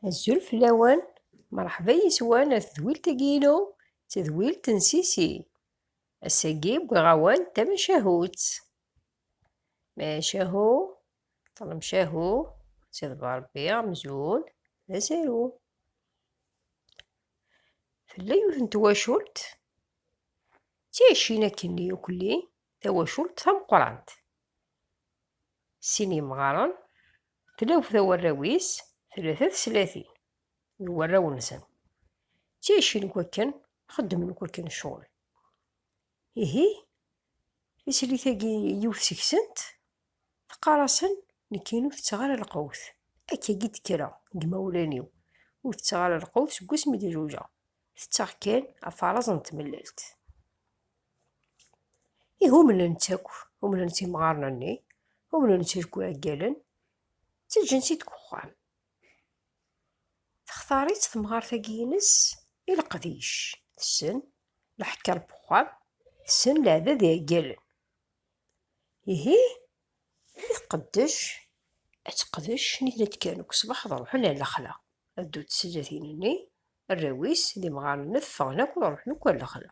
Azul fell-awen, mṛeḥba yes-wen ar tedwilt-agi-inu, tedwilt n Sisi. Ass-agi wwiɣ-awen tamacahut. Macahu, ṭlemcahu, ţiḍba Ṛebbi amzun d asaru. Tella yiwet n twacult ţiɛicin akken yukelli. tawacult tameqqrant. Sin yemɣaren, tlawt awarraw-is tlata teslatin d warraw-nsen. Ttjacin n wakken xeddmen wakken ccɣel. Ihi, tislit-agi yiwet seg-sent teqqar-asen nekk ur tetteɣ ara lqewt. Akkagi d-kkreɣ deg yimawlan-iw. Ur tetteɣ ara lqewt seg wasmi d-zewǧeɣ. Tetteɣ kan afaraz n tmellalt. Ihi umnen-tt akk, umnen-tt imɣaren-nni, umnen-tt akk iɛeggalen, ttaǧǧan-tt-id deg uxxam. Textar-itt temɣart-agi-ines i leqdic, tessen leḥker n uxxam, tessen leɛdad n yiɛeggalen. Ihi i tqeddec, ad teqdec nitni ad d-kkren deg ṣṣbeḥ ad ruḥen ar lexla, ad ddunt tezlatin-nni, arraw-is d imɣaren-nni ad ffɣen akk ad ruḥen akk ar lexla.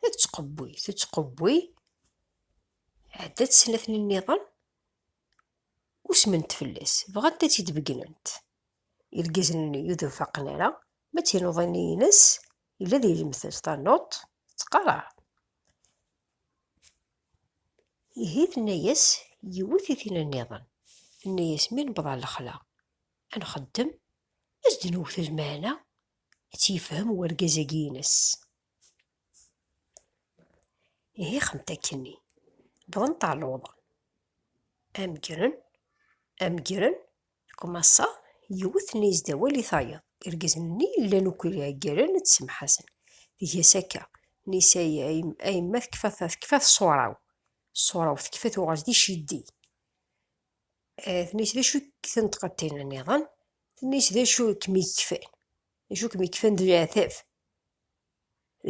Tettqewwi, tettqewwi, ɛeddat snat-nniḍen, usment fell-as, bɣant ad tt-id-beggent. Irgazen-nni ur d-faqen ara, ma d tinuḍin-ines, yella di lemtel, tanuḍt tettqerreɛ. Ihi tenna-yas yiwet i tin-nniḍen, tenna-yas mi newweḍ ɣer lexla, ad nxeddem, ad d-newwet lmeɛna, Ad tt-yefhem urgaz-agi ines. Ihi xemt akkenni, wwḍent ɣer lewḍa. Am ggren, am ggren, Kmasa yiwet n yezda awal i tayeḍ. Irgazen-nni llan akk ggren ad semḥasen. Tga-s akka, Nisa a yemma tekfa tṣura-w, ṣṣura-w tekfa tuɣal d iceddi. Eh, tenna-as d acu i k-tenṭqeḍ niḍen tenna-as d acu i kem-ikfan d acu i kem-ikfan d leɛtab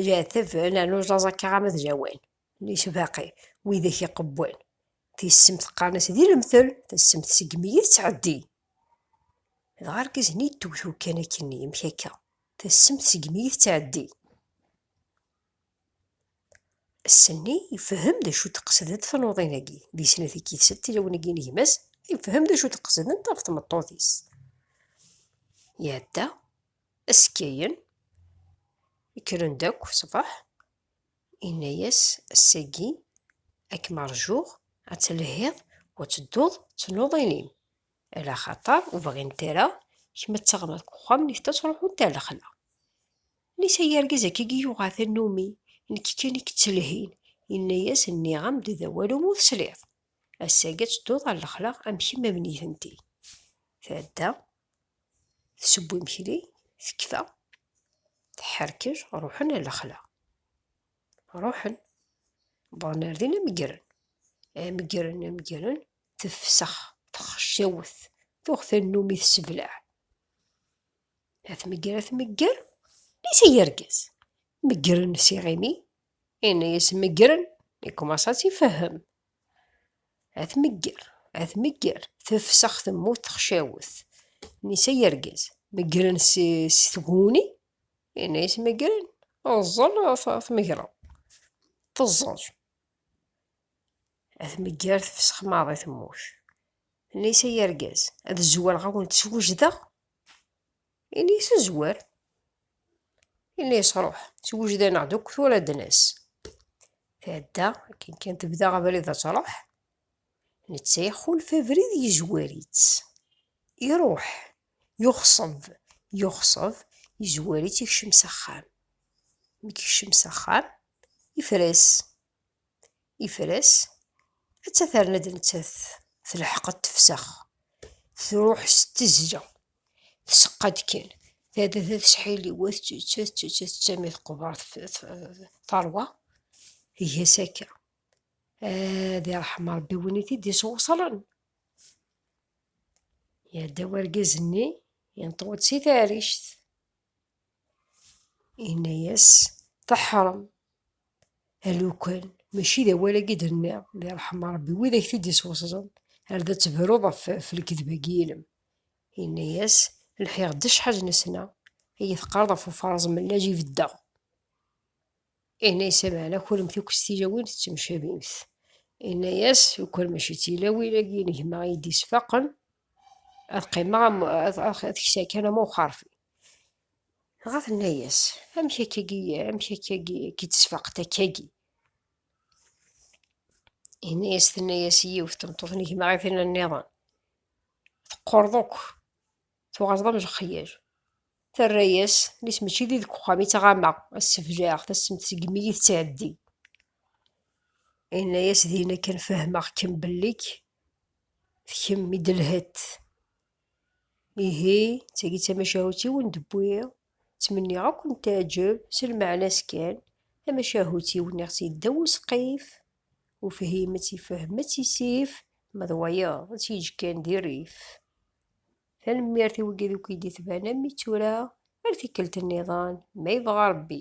leɛtab nernu ẓaẓ akka ɣama d lawan tenna-as baqi widak iqewwan tissemt qqaren-as di lemtel tissemt segmi i tettɛeddi dɣa argaz-nni yettewt ukkan akkenni amek akka tissemt segmi i tettɛeddi Ass-nni, yefhem d acu d-qesdent tnuḍin-agi. Di snat i k-yettel tilawin-agi n gma-s, yefhem d acu d-qesdent ɣef tmeṭṭut-is. Iɛedda, askayen, kkren-d akk ṣṣbeḥ, yenna-yas, ass-agi ad kem-rjuɣ, ad telhiḍ u ad tedduḍ d tnuḍin-im, ala xaṭer ur bɣint ara kemm ad teɣreḍ deg uxxam-nnek, ad truḥeḍ d lexla. Nisa yargaz akka i yuɣa tannumi, nekk kan i yettelhin, yenna-yas nniɣ-am-d d awal umi ur tesliḍ, ass-agi ad tedduḍ ɣer lexla am kemm am nitenti. Tɛedda, teseww imekli, tekfa, teḥḥerkej, ruḥen ɣer lexla. Ruḥen, wwḍen ar din am ggren, am ggren, am ggren, tefsex, texcawet, tuɣ tannumi tesseblaɛ. Ad tmegger, ad tmegger, is i yergez. Meggren s iɣimi, inna-yas meggren, ikkumaṣa ad tifehhem. Ad tmegger, ad tmegger, tefsex temmut texcawet. Nisa yergez, meggren s tguni, inna-yas meggren, ẓẓel tmegreḍ, teẓẓel. Ad tmegger tefsex maḍi temmut. Nisa yergez, ad zzuwreɣ ad wen-tt-swejdeɣ, Ini yesezwer. Ini yesruḥ. Swejdaneɣ deg tura d-nes. Tɛedda akken kan tebda abrid ad tṛuḥ. Netta ixulef abrid yezwar-itt. Iṛuḥ. Yuxṣeb. Yuxṣeb. Yezwar-itt ikcem s axxam. Mi ikcem s axxam, ifres. Yefres, atta terna-d nettat telḥeq ad tefsex, truḥ s tezla, tseqqa-d kan, terna tettḥili wa tettett, tettett, tettett, mi teqber teṛwa, tga-s akka. Ad iṛḥem Ṛebbi win i t-id-isewṣlen. Iɛedda urgaz-nni, yenṭew-d si taɛrict. Inna-yas, Teḥṛem! Alukan, mačči d awal-agi i d-tenniḍ, di ṛṛeḥma n Ṛebbi, wid-ak t-id-isweṣṣden, ar d tebruḍ ɣef lekdeb-agi-inem. Inna-yas, Lḥiɣ-d acḥal nesna, iyi-teqqareḍ ɣef ufaṛeẓ mellaǧ i beddeɣ. Inna-yas, Meɛna kunemt akk s tilawin tettemcabimt. Inna-yas, Ukur mačči d tilawin-agi n gma i yi-d-isfaqen, ad qqimeɣ am, ad, ad kseɣ kan am uxerfi. Dɣa tenna-yas, Amek akkagi, amek akkagi i k-id-tesfaq takka-gi? Inna-yas, tenna-yas yiwet tmeṭṭut n gma i tin-nniḍen, teqqurḍ akk. Tuɣaleḍ am lexyal. Terra-yas, nis mačči di deg uxxam i ttɣamaɣ, ad sebleɣ, tassemt segmi i tettɛeddi. Yenna-yas dinna kan fehmeɣ-kem belli-k d kemm i d-lhett. Ihi, d tagi d tamacahut-iw n d-wwiɣ, ttmenniɣ ad ken-teɛǧeb, s lmeɛna-s kan, tamacahut-iw nniɣ-tt yeddaw usqif, ufhim ad tt-ifhem ad tt-isif, ma d wayeḍ ad tt-yeǧǧ kan di rrif. Tanemmirt i wigi deg id d-itban am tura ar tikkelt nniḍen ma yebɣa Rebbi.